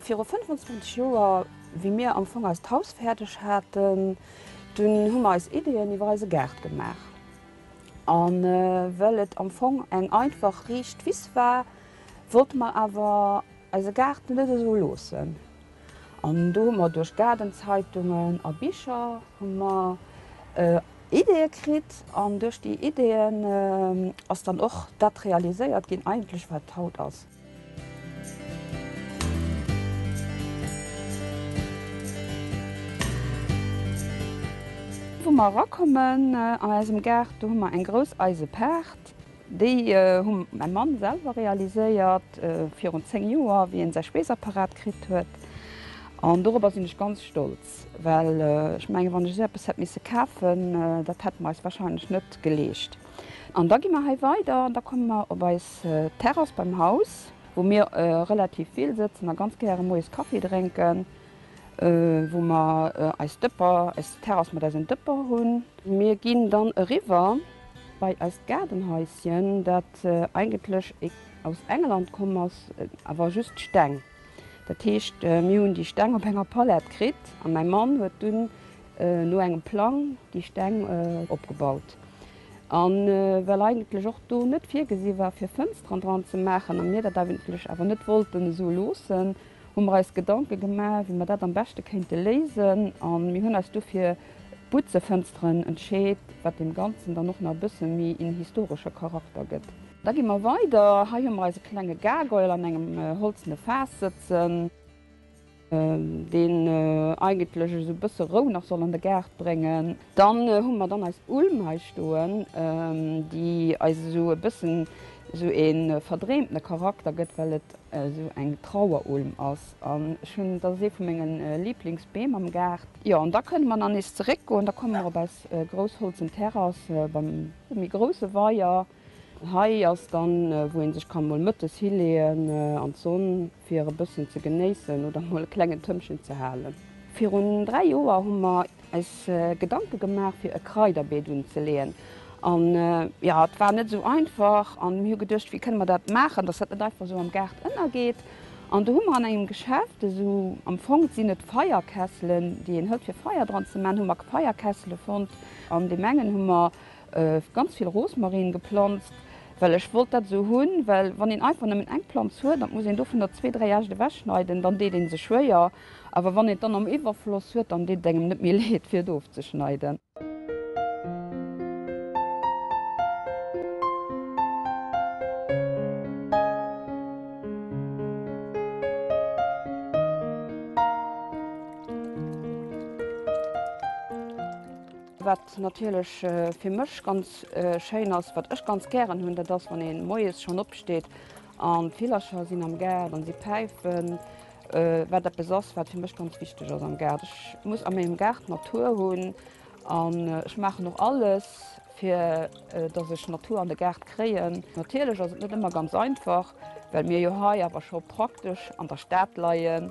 Viru 25 Joer, wéi mir am Fong eist Haus fäerdeg haten, dunn hu mer eis Ideeën iwwer eise Gaart gemaach. A well et am Fong eng einfach, riicht Wiss war, wollte mer awer eise Gaart net esou loossen. An do hu mer duerch Gaardenzeitungen a Bicher hu mer Ideeë kritt. An duerch déi Ideeën ass dann och dat realiséiert ginn eigentlech, wat haut ass. Wou mer erakommen an eisem Gaart, do hu mer eng grouss eise Paart. Déi hu mäi Mann selwer realiséiert virun 10 Joer, wéi en säi Speesapparat kritt huet. An dorobber sinn ech ganz stolz, well ech mengen, wann ech esou eppes hätt misse kafen, dat hätte mer eis warscheinlech net geleescht. An da gi mer hei weider an da komme mer op eis D'Terrass beim Haus, wou mir relativ vill sëtzen a ganz gäre moies Kaffi drénken, wou mer eis Dëpper, eis Terrass mat eisen Dëpper hunn. Mir ginn dann eriwwer bei eist Gaardenhaisschen, dat eigentlech aus England komm ass, awer just Steng. Dat heescht, mir hunn déi Steng op enger Palette kritt a mäi Mann huet dunn no engem Plang déi Steng opgebaut. A well eigentlech och do net virgesi war fir Fënsteren dran ze maachen a mir dat eigentlech awer net wollten esou loossen, hu mer eis Gedanke gemaach, wéi mer dat am beschte kéinte léisen. A mir hunn eis du fir Butzefënsteren entscheet, wat deem Ganzen dann och nach e bësse méi een historesche Charakter gëtt. Da gi mer weider. Hei hu mer eise klenge Gargoyle an engem holzene Faass sëtzen. deen eigentlech esou e bësse Rou nach soll an de Gaart bréngen. Dann hu mer dann eis Ulm hei stoen, déi eis esou e bëssen esou e verdreemtene Charakter gëtt, well et esou eng Trauerulm ass. An ech hunn, dat ass ee vu menge Liblingsbeem am Gaart. Jo, an da kënne mer nach nees zeréckgoen, da komme mer op eis grouss holzen Terrass beim méi grousse Weier. Hei ass dann wou een sech kann mol mëttes hileeën an d'Sonn fir e bëssen ze genéissen oder mol e klengen Tëmpchen ze halen. Virun 3 Joer hu mer eis Gedanke gemaach fir e Kraiderbeet unzeleeën an jo et war net esou einfach an mir hu geduecht wéi kënne mer dat maachen dass dat net einfach esou am Gaart ënnergeet an do hu mer an engem Geschäft esou am Fong sinn et Feierkesselen déi een hëlt fir Feier dran ze man hu mer Feierkessele fonnt an deem engen hu mer Ganz vill Rosmarin geplanzt well ech wollt dat sou hun, well wann een einfach nemmen eng Planz huet an muss een dovunner zwee, dréi Äscht ewech schneiden dann deet een sech schwéier, awer wann een dann am Iwwerfloss huet dann deet et engem net méi leed fir et ofzeschneiden. Natierlech fir mech ganz schéin ass, wat ech ganz gären hunn, dat ass wann ee moies schonn opsteet an d'Villercher sinn am Gaart an si päifen, wat eppes ass, wat fir mech ganz wichteg ass am Gaart. Ech muss a mengem Gaart Natur hunn an ech maachen och alles, fir datt ech Natur an de Gaart kréien. Natierlech ass et net ëmmer ganz einfach, well mir jo hei awer scho praktesch an der Stad leien